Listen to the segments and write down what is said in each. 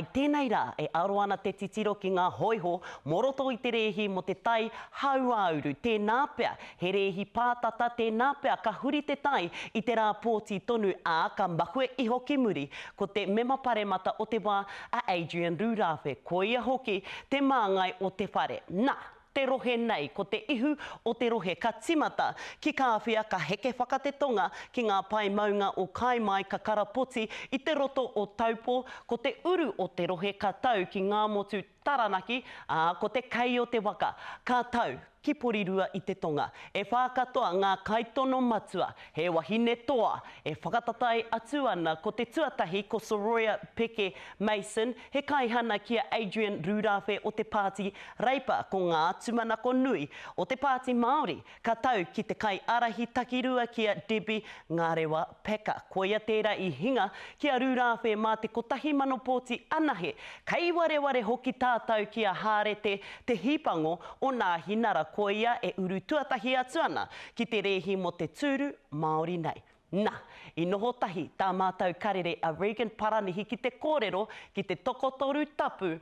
I tēnei rā, e aro ana te titiro ki ngā hōiho mō roto i te rēhi mō te tai hauāuru, tēnā pea he rēhi pātata, tēnā pea ka huri te tai i te rā pōti tonu, ā, ka mahue iho ki muri, ko te Mema Paremata o te wā, a Adrian Rūrāwhe, koia hoki te māngai o te whare. Na! te rohe nei, ko te ihu o te rohe ka timata ki Kāwhia ka heke whaka te tonga ki ngā pae maunga o Kae Mai ka karapoti i te roto o Taupō, ko te uru o te rohe ka tau ki Ngāmotu, Taranaki, ā, ko te kei o te waka ka tau ki Porirua i te tonga. E whā katoa ngā kaitono matua, he wahine toa e whakatatai atu ana ko te tuatahi ko Soroya Peke Mason, He kaihana ki a Adrian Rūrāwhe o te Pāti Reipa ko ngā tūmanako nui o te Pāti Māori ka tau ki te kaiārahi takirua ki a Debbie Ngarewa Packer. Koia tērā i hinga ki a Rūrāwhe mā te kotahi mano pōti anahe. Kei wareware hoki tātau ki a Hārete Te Hīpango o Nāhinara koia e uru tuatahi atu ana ki te rēhi mō te tūru Māori nei. Na, i noho tahi tā mātou karere a Regan Paranihi ki te kōrero ki te tokotoru tapu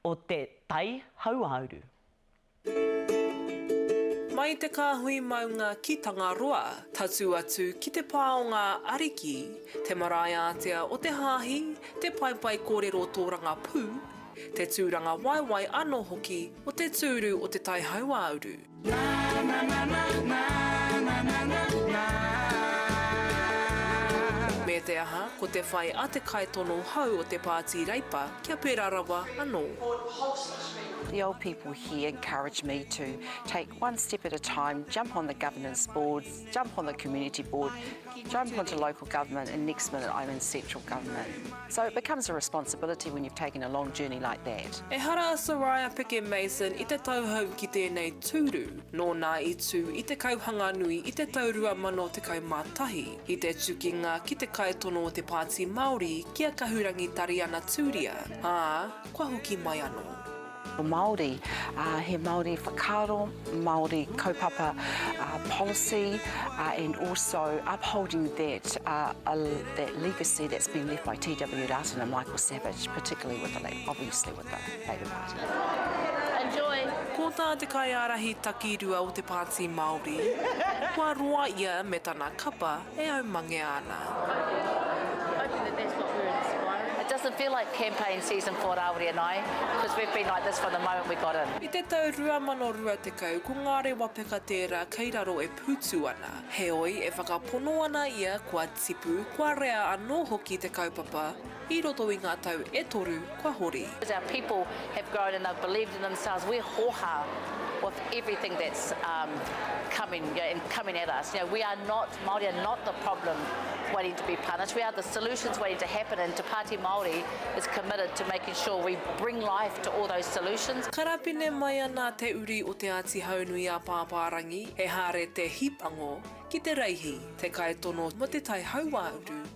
o te tai hauāuru. Mai i te kāhui maunga ki Tangaroa, tatū atu ki te pā o ngā ariki, te marae ātea o te hāhi, te paepae kōrero o tō rangapū, te tūrangawaewae anō hoki o te tūru o te tai hauāuru. Me te aha, ko te whai a te kaitono hou o te Pāti Reipa kia pērā rawa anō. The old people here encouraged me to take one step at a time, jump on the Governance Board. jump on the community board, jump onto local government and next minute I'm in central government. So it becomes a responsibility when you've taken a long journey like that. Ehara a Soraya Peke Mason i te tauhou ki tēnei tūru, nōna i tū i te kauhanga nui i te tau 2011, i te tukinga ki te kaitono o te Pāti Māori ki a Kahurangi Tariana Tūria, ā, kua hoki mai anō. Māori, ā, he Māori whakaaro, Māori kaupapa, ā, policy, ā, and also upholding that, ā, ā, that legacy that's been left by TW Rātana and Michael Savage, particularly with the, obviously with the Labour Party. Enjoy! Ko tā te kaiārahi takirua o te Pāti Māori, kua roa ia me tana kapa, E au mangea ana. Hoping that that's what we're inspiring. It doesn't feel like campaign season for Rāwiri and I, because we've been like this from the moment we got in. I te tau 2020 ko ngā rewa peka tērā kei raro e pūtu ana. Heoi, e whakapono ana ia kua tipu, kua rea anō hoki te kaupapa, i roto i ngā tau e toru kua hori. As our people have grown and they've believed in themselves, we're hōhā with everything that's um coming, you know, and coming at us. You know, we are not, Māori are not the problem waiting to be punished, we are the solutions waiting to happen and Te Pāti Māori is committed to making sure we bring life to all those solutions. Karapine mai ana te uri o Te Āti Haunui-a-Pāpārangi e Hāre Te Hīpango ki te reihi, te kaitono mō te tai hauāuru.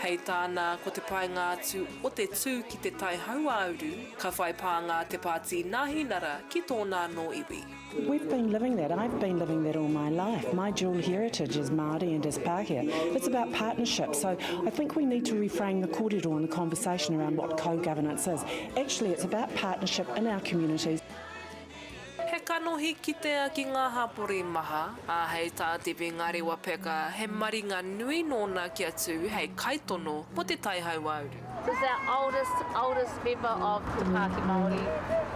Hei tāna, ko te painga atu o te tū ki te tai hauāuru, ka whai pānga te Pāti Nāhinara ki tōna anō iwi. We've been living that, I've been living that all my life. My dual heritage as Māori and as Pākehā, it's about partnership. So I think we need to reframe the kōrero and the conversation around what co-governance is. Actually it's about partnership in our communities. He kanohi kitea ki ngā hapori maha, ā, hei tā Tipi Ngariwa Peka, he maringa nui nōna kia tū hei kaitono mō Te Tai Hauāuru. Is our oldest oldest member of Te Pāti Māori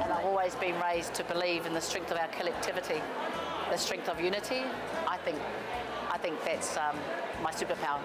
and I've always been raised to believe in the strength of our collectivity, the strength of unity, I think I think that's my superpower.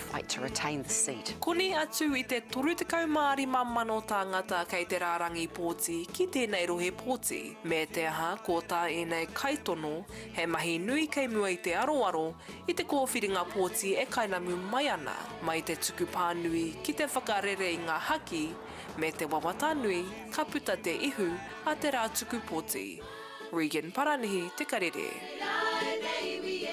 fight to retain this seat. Koni atu i te 35,000 tāngata kei te rārangi pōti ki tēnei rohe pōti, me te aha ko tā ēnei kaitono, he mahi nui kei mua i te aroaro i te kōwhiringa pōti e kainamu mai ana, mai te tuku pānui ki te whakarere i ngā haki, me te wawata nui ka puta te ihu a te rā tuku pōti. Regan Paranihi te karere.